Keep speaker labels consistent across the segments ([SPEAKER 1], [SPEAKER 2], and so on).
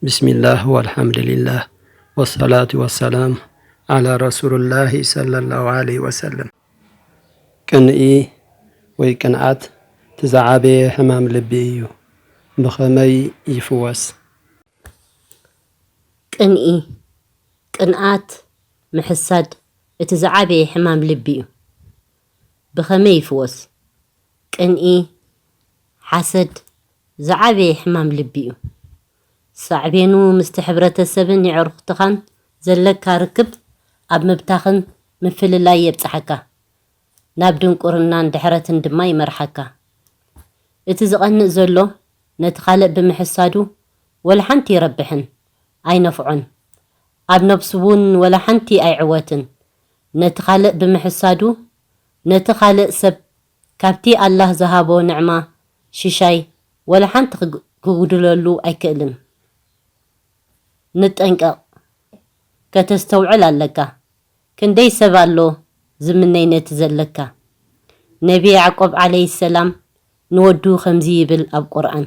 [SPEAKER 1] ብስሚላህ ወልሓምድሊላህ ወሰላቱ ወሰላም ዓላ ረሱሉላሂ ሰለላሁ ዓለይሂ ወሰለም። ቅንኢ ወይ ቅንዓት እቲ ዝዓበየ ሕማም ልቢ እዩ። ብኸመይ ይፍወስ?
[SPEAKER 2] ቅንኢ፣ ቅንኣት፣ ምሕሳድ እቲ ዝዓበየ ሕማም ልቢ እዩ። ብኸመይ ይፍወስ? ቅንኢ፣ ሓሰድ ዝዓበየ ሕማም ልቢ'ዩ። ሳዕቤኑ ምስቲ ሕብረተሰብን የዕሩኽትኻን ዘለካ ርክብ ኣብ ምብታኽን ምፍልላይ የብጽሓካ፣ ናብ ድንቁርናን ድሕረትን ድማ ይመርሓካ። እቲ ዝቐንእ ዘሎ ነቲ ካልእ ብምሕሳዱ ወላ ሓንቲ ይረብሕን ኣይነፍዖን፣ ኣብ ነብሱ'ውን ወላ ሓንቲ ኣይዕወትን። ነቲ ካልእ ብምሕሳዱ ነቲ ካልእ ሰብ ካብቲ ኣላህ ዝሃቦ ንዕማ ሽሻይ ወላ ሓንቲ ክጉድለሉ ኣይክእልን ንጠንቀቅ ከተስተውዕል ኣለካ ክንደይ ሰብ ኣሎ ዝምነይ ነቲ ዘለካ ነቢ ያዕቆብ ዓለይሂ ሰላም ንወዱ ከምዚ ይብል ኣብ ቁርኣን።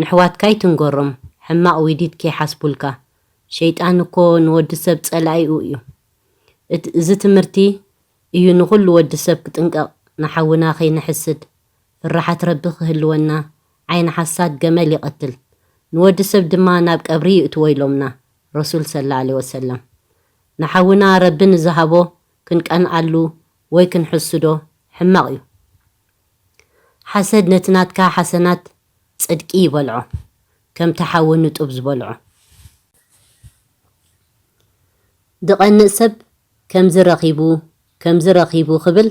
[SPEAKER 2] ነሕዋትካ ኣይትንገሮም ሕማቅ ዊዲት ከይሓስቡልካ ሸይጣን እኮ ንወዲ ሰብ ጸላኢኡ እዩ እት እዚ ትምህርቲ እዩ ንኩሉ ወዲ ሰብ ክጥንቀቅ ንሓውና ከይንሕስድ ፍራሓት ረቢ ክህልወና ዓይኒ ሓሳድ ገመል ይቀትል ንወዲ ሰብ ድማ ናብ ቀብሪ ይእትዎ ኢሎምና ረሱል ሰላ ዓለይሂ ወሰለም ንሓውና ረቢ ንዝሃቦ ክንቀንኣሉ ወይ ክንሕስዶ ሕማቅ እዩ ሓሰድ ነቲ ናትካ ሓሰናት ጽድቂ ይበልዖ ከምቲ ሓዊ ንጡብ ዝበልዖ። ዝቐንእ ሰብ ከምዚ ረኺቡ ከምዚ ረኺቡ ክብል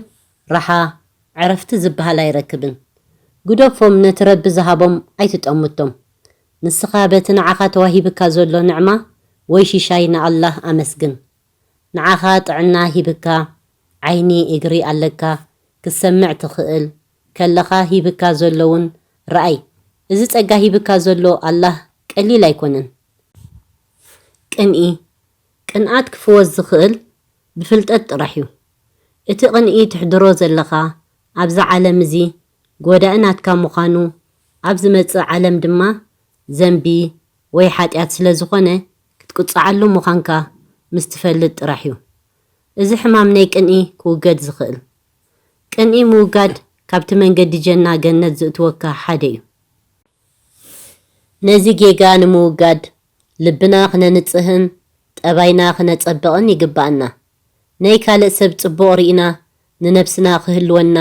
[SPEAKER 2] ራሓ ዕረፍቲ ዝበሃል ኣይረክብን። ግደፎም ነቲ ረቢ ዝሃቦም ኣይትጠምቶም። ንስኻ በቲ ንዓኻ ተዋሂብካ ዘሎ ንዕማ ወይ ሽሻይ ንኣላህ ኣመስግን። ንዓኻ ጥዕና ሂብካ ዓይኒ እግሪ ኣለካ ክትሰምዕ ትኽእል ከለኻ ሂብካ ዘሎ ውን ርኣይ እዚ ጸጋ ሂብካ ዘሎ ኣላህ ቀሊል ኣይኮነን ቅንኢ ቅንኣት ክፍወስ ዝኽእል ብፍልጠት ጥራሕ ዩ እቲ ቅንኢ ትሕድሮ ዘለኻ ኣብዚ ዓለም እዚ ጎዳኢ ናትካ ምዃኑ ኣብ ዝመጽእ ዓለም ድማ ዘንቢ ወይ ሓጥያት ስለ ዝኾነ ክትቅጽዓሉ ምዃንካ ምስ ትፈልጥ ጥራሕ ዩ እዚ ሕማም ናይ ቅንኢ ክውገድ ዝኽእል። ቅንኢ ምውጋድ ካብቲ መንገዲ ጀና፣ ገነት፣ ዝእትወካ ሓደ እዩ። ነዚ ጌጋ ንምውጋድ ልብና ክነንጽህን ጠባይና ክነጸብቕን ይግብኣና። ናይ ካልእ ሰብ ጽቡቕ ርኢና ንነብስና ክህልወና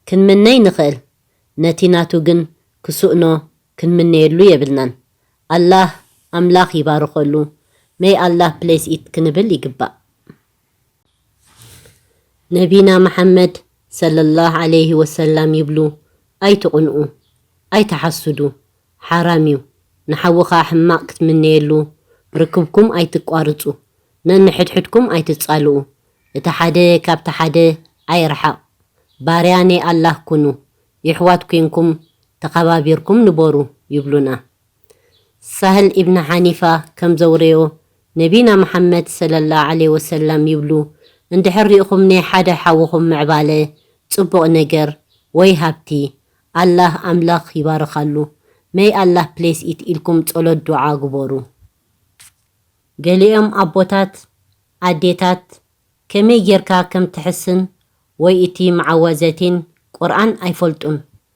[SPEAKER 2] ክንምነይ ንኽእል፣ ነቲ ናቱ ግን ክስእኖ ክንምነየሉ የብልናን። ኣላህ፣ ኣምላኽ፣ ይባርኸሉ፣ May Allah bless it፣ ክንብል ይግባእ። ነቢና መሓመድ ሰለላህ ዓለይሂ ወሰላም ይብሉ ኣይትቕንኡ ኣይትሓሱዱ ሓራም ዩ ንሓውኻ ሕማቕ ክትምነየሉ ርክብኩም ኣይትቋርጹ ነንሕድሕድኩም ኣይትጻልኡ እቲ ሓደ ካብቲ ሓደ ኣይርሓቕ ባርያ ናይ ኣላህ ኩኑ የሕዋት ኮንኩም ተኸባቢርኩም ንበሩ ይብሉና ሳህል ኢብን ሓኒፋ ከም ዘውረዮ፣ ነቢና መሓመድ ሰለላሁ ዓለይሂ ወሰላም ይብሉ፣ እንድሕር ሪእኹም ናይ ሓደ ሓውኹም ምዕባለ፣ ጽቡቕ ነገር፣ ወይ ሃብቲ፣ ኣላህ፣ ኣምላኽ፣ ይባርኻሉ፣ May Allah Bless It፣ ኢልኩም ጸሎት ዱዓ ግበሩ። ገሊኦም ኣቦታት፣ ኣዴታት፣ ከመይ ጌርካ ከም ትሕስን ወይ እቲ መዓወዘቲን፣ ቁርኣን፣ ኣይፈልጡን።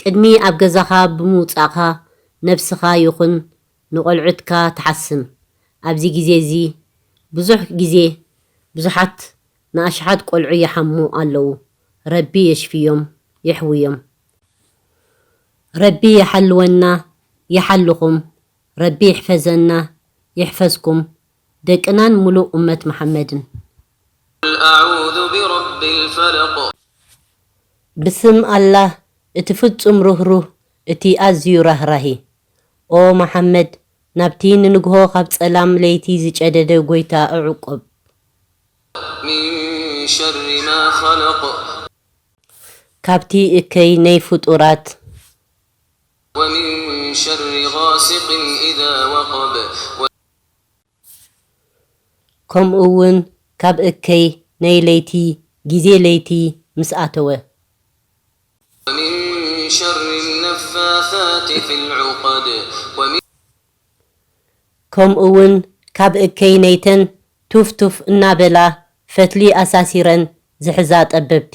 [SPEAKER 2] ቅድሚ ኣብ ገዛኻ ብምውጻእካ ነብስኻ ይኹን ንቆልዑትካ ትሓስም። ኣብዚ ግዜ እዚ ብዙሕ ግዜ ብዙሓት ንኣሽሓት ቆልዑ ይሓሙ ኣለዉ ረቢ የሽፍዮም የሕውዮም ረቢ ይሓልወና ይሓልኹም ረቢ ይሕፈዘና ይሕፈዝኩም ደቅናን ሙሉእ ኡመት መሓመድን። ቁል
[SPEAKER 3] ኣዑዙ ቢረቢል ፈለቅ።
[SPEAKER 2] ብስም ኣላህ እቲ ፍጹም ርህሩህ እቲ ኣዝዩ ራህራሂ። ኦ መሓመድ ናብቲ ንንግሆ ካብ ጸላም ለይቲ ዝጨደደ ጎይታ እዕቆብ።
[SPEAKER 3] ሚን ሸሪ ማ ኸለቅ።
[SPEAKER 2] ካብቲ እከይ ነይ ፍጡራት።
[SPEAKER 3] ወሚን ሸሪ ጋሲቅን ኢዛ ወቀብ።
[SPEAKER 2] ከምኡ ውን ካብ እከይ ናይ ለይቲ ግዜ ለይቲ ምስ ኣተወ። ወሚን
[SPEAKER 3] ሸሪ ነፋሳት ፊልዑቀድ።
[SPEAKER 2] ከምኡ ውን ካብ እከይ ናይተን ቱፍ ቱፍ እናበላ ፈትሊ ኣሳሲረን ዝሕዛ ጠበብቲ።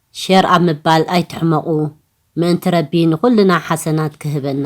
[SPEAKER 2] ሸር ኣብ ምባል ኣይትሕመቁ ምእንቲ ረቢ ንኩልና ሓሰናት ክህበና።